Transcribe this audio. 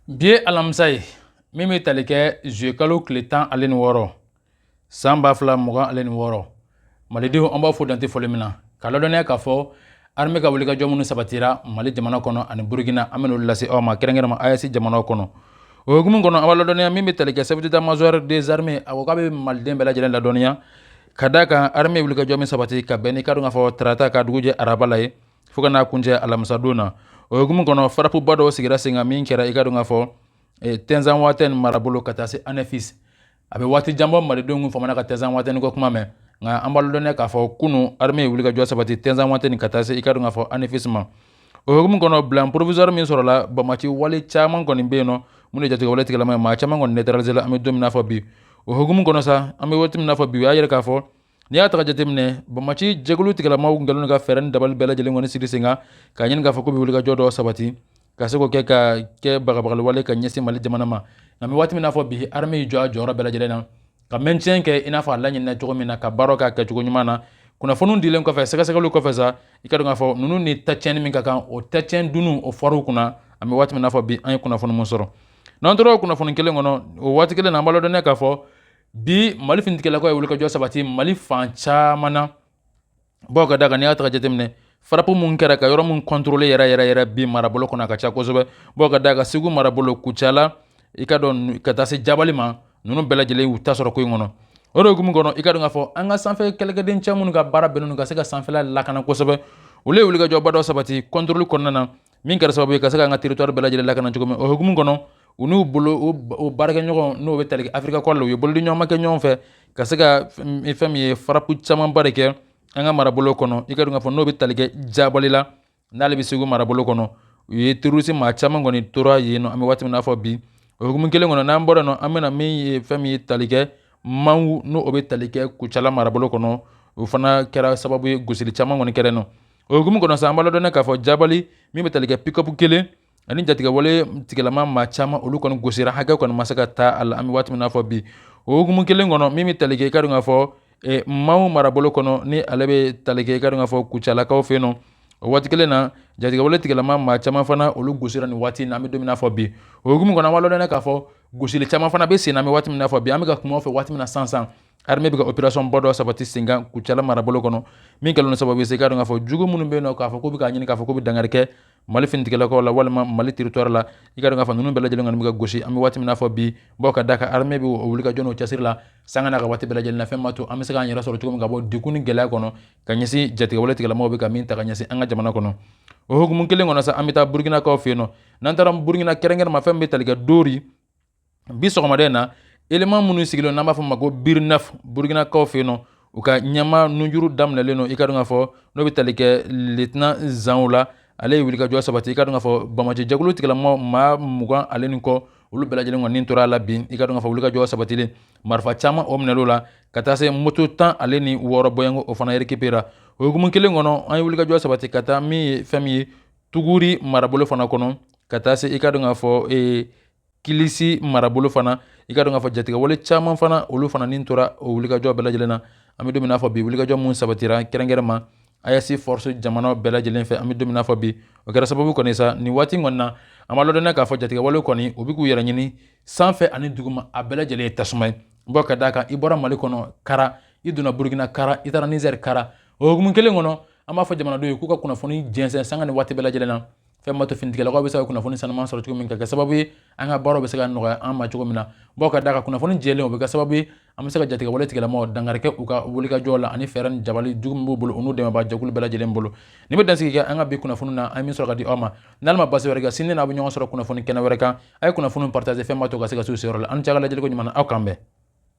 bi ye alamisa ye min bɛ tali kɛ zuyekalo tile tan ale ni wɔɔrɔ san ba fila mugan ale ni wɔɔrɔ malidenw an b'aw fo dan tɛ foli min na k'aw ladɔnniya k'a fɔ armée ka wulikajɔ minnu sabatira mali jamana kɔnɔ ani burukina an bɛn'olu lase aw ma kɛrɛnkɛrɛnma AES jamanaw kɔnɔ o hukumu kɔnɔ an b'a ladɔnniya min bɛ tali kɛ chef d'état major des armées a ko k'a bɛ maliden bɛɛ lajɛlen ladɔnniya ka da kan armée wulikajɔ min sabati ka bɛn i ka dɔn k'a fɔ tarata ka dugujɛ araba la ye fo ka n'a kuncɛ alamisadon na o hukumu kɔnɔ farapuba dɔw sigira sen kan min kɛra i ka dɔn k'a fɔ eh, tinzawatɛni marabolo ka taa se anɛfis a bɛ waati jan bɔ malidenw tun famana ka tinzawatɛni ko kuma mɛn nka an b'a ladɔnniya k'a fɔ kunun armée ye wulikajɔ sabati tinzawatɛni ka taa se i ka dɔn k'a fɔ anɛfis ma o hukumu kɔnɔ bilan provisoire min sɔrɔla banbaanci wale caman kɔni bɛ yen nɔ minnu ye jatigɛwale tigilama ye maa caman kɔni neutralisela an bɛ don min n'a fɔ bi o hukumu kɔnɔ sa an bɛ waati min n'a fɔ bi u y'a yira k'a fɔ N'i y'a ta ka jateminɛ banbaanci jɛkulu tigilama kɛlen ka fɛɛrɛ ni dabali bɛɛ lajɛlen kɔni sigi sen kan k'a ɲini k'a fɔ k'u bɛ wulikajɔ dɔ sabati ka se k'o kɛ ka kɛ bagabagawale ka ɲɛsin mali jamana ma nka an bɛ waati min n'a fɔ bi armée y'i jɔ a jɔyɔrɔ bɛɛ lajɛlen na ka maintien kɛ i n'a fɔ a laɲininen cogo min na ka baara k'a kɛ cogo ɲuman na kunnafoni dilen kɔfɛ sɛgɛsɛgɛli kɔfɛ sa i ka dɔn k'a fɔ ninnu ni tatiɲɛni min ka kan o tatiɲɛ dunun o fɔr'u kunna an bɛ waati min n'a fɔ bi an ye kunnafoni min sɔrɔ n'an tora kunnafoni kelen kɔnɔ o waati kelen na an b'a ladɔnniya k'a fɔ bi mali finitigilakaw ye wulikajɔ sabati mali fan caman na bawo ka da kan n'i y'a ta ka jateminɛ farapu min kɛra ka yɔrɔ min kɔntorole yɛrɛ yɛrɛ yɛrɛ bi marabolo kɔnɔ a ka ca kosɛbɛ bawo ka da kan segu marabolo kucala i ka dɔn ka taa se jabali ma ninnu bɛɛ lajɛlen y'u ta sɔrɔ ko in kɔnɔ o de hukumu kɔnɔ i ka dɔn k'a fɔ an ka sanfɛ kɛlɛkɛden cɛ minnu ka baara bɛnnen don ka se ka sanfɛla lakana kosɛbɛ olu ye wulikajɔba dɔ sabati kɔntoroli kɔnɔna na min kɛra sababu ye ka se ka an ka territoire bɛɛ lajɛlen lakana cogo min o hukumu kɔnɔ u n'u bolo o baarakɛɲɔgɔn n'o bɛ tali kɛ Africa Corps la u ye bolodi ɲɔgɔnma kɛ ɲɔgɔn fɛ ka se ka fɛn min ye farapu camanba de kɛ an ka marabolo kɔnɔ i ka dɔn k'a fɔ n'o bɛ tali kɛ jabali la n'ale bɛ segu marabolo kɔnɔ u ye terorisi maa caman kɔni tora yen nɔ an bɛ waati min n'a fɔ bi o hukumu kelen kɔnɔ n'an bɔra yen nɔ an bɛna min ye fɛn min ye tali kɛ mangu n'o bɛ tali kɛ kucala marabolo kɔnɔ o fana kɛra sababu ye gosili caman kɔni kɛra yen nɔ o hukumu kɔnɔ sa an b'a ladɔnniya k'a fɔ jabali min bɛ tali kɛ pikapu kelen ani jatigɛwale tigilama maa caman olu kɔni gosira hakɛ kɔni ma se ka da a la an bɛ waati min na fɔ bi o hukumu kelen kɔnɔ min bɛ tali kɛ i ka dɔn k'a fɔ e, mangu marabolo kɔnɔ ni ale bɛ tali kɛ i ka dɔn k'a fɔ kucalakaw fɛ yen nɔ o waati kelen na jatigɛwale tigilama maa caman fana olu gosira nin waati in na an bɛ don min na fɔ bi o hukumu kɔnɔ an b'a ladɔnniya k'a fɔ gosili caman fana bɛ sen na an bɛ waati min na fɔ bi an bɛ ka kuma aw fɛ waati min na sisan sisan Armée bɛ ka opération ba dɔ sabati sen kan kucala marabolo kɔnɔ min kɛlen don sababu ye i ka dɔn k'a fɔ jugu minnu bɛ yen nɔ k'a fɔ k'u bɛ k'a ɲini k'a fɔ k'u bɛ dankari kɛ mali finitigɛlakaw la walima mali territoire la i ka dɔn k'a fɔ ninnu bɛɛ lajɛlen kɔni bɛ ka gosi an bɛ waati min n'a fɔ bi bawo ka d'a kan armée bɛ o wulikajɔ n'o cɛsiri la sanga n'a ka waati bɛɛ lajɛlen na fɛn b'a to an bɛ se k'an yɛrɛ sɔrɔ cogo min ka bɔ degun ni gɛlɛya kɔnɔ ka ɲɛsin jatigɛwale tigɛlamaw bɛ ka min ta ka ɲɛsin an ka jamana kɔnɔ o hukumu kelen kɔnɔ an bɛ taa burukinakaw fɛ yen nɔ n'an taara burukina kɛrɛnkɛrɛnma fɛn min bɛ tali kɛ dori bi sɔgɔmada in na élément minnu sigilen n'an b'a fɔ ma ko BIR neuf burukinakaw fɛ yen nɔ u ka ɲɛma nujuru daminɛlen don i ka dɔn k'a fɔ n'o bɛ tali kɛ lieutenant zanw la ale ye wulikajɔ sabati i ka dɔn k'a fɔ banbaanci jɛkulu tigɛlama maa mugan ale ni kɔ olu bɛɛ lajɛlen kɔni tora a la bi i ka dɔn k'a fɔ wulikajɔ sabatilen marifa caman o minɛl'o la ka taa se moto tan ale ni wɔɔrɔ bɔɲɔgɔnko o fana récupérera o hukumu kelen kɔnɔ an ye wulikajɔ sabati ka taa min ye fɛn min ye tuguri marabolo fana kɔnɔ ka taa se i ka dɔn k'a fɔ ee kilisi marabolo fana i ka dɔn k'a fɔ jatigɛwale caman fana olu fana ni tora o wulikajɔ bɛɛ lajɛlen na an bɛ don min n'a fɔ bi wulikajɔ minnu sabatira kɛrɛnkɛrɛnma AES force jamana bɛɛ lajɛlen fɛ an bɛ don min n'a fɔ bi o kɛra sababu kɔni sa nin waati kɔni na an b'a ladɔnniya k'a fɔ jatigɛwale kɔni u bɛ k'u yɛrɛ ɲini sanfɛ ani duguma a bɛɛ lajɛlen ye tasuma ye bawo ka d'a kan i bɔra mali kɔnɔ kara i donna burukina kara i taara nizɛri kara o hukumu kelen kɔnɔ an b'a fɔ jamanadenw ye k'u ka kunnafoni jɛnsɛn sanga ni waati bɛɛ lajɛlen na fɛn b'a to finitigɛlakaw bɛ se ka kunnafoni sanuman sɔrɔ cogo min ka kɛ sababu ye an ka baaraw bɛ se ka nɔgɔya an ma cogo min na bawo ka d'a kan kunnafoni jɛlen o bɛ kɛ sababu ye an bɛ se ka jatigɛwale tigɛlamaw dankari kɛ u ka wulikajɔ la ani fɛɛrɛ ni dabali jugu min b'u bolo u n'u dɛmɛbaa jɛkulu bɛɛ lajɛlen bolo nin bɛ dansigi kɛ an ka bi kunnafoni na an ye min sɔrɔ ka di aw ma n'ala ma basi wɛrɛ kɛ sini n'an bɛ ɲɔgɔn sɔrɔ kunnafoni kɛnɛ wɛrɛ kan a ye kunnafoni partager fɛn b'a to ka se ka s'u seyɔrɔ la aw ni ce ka lajɛliko ɲuman na aw k'an bɛn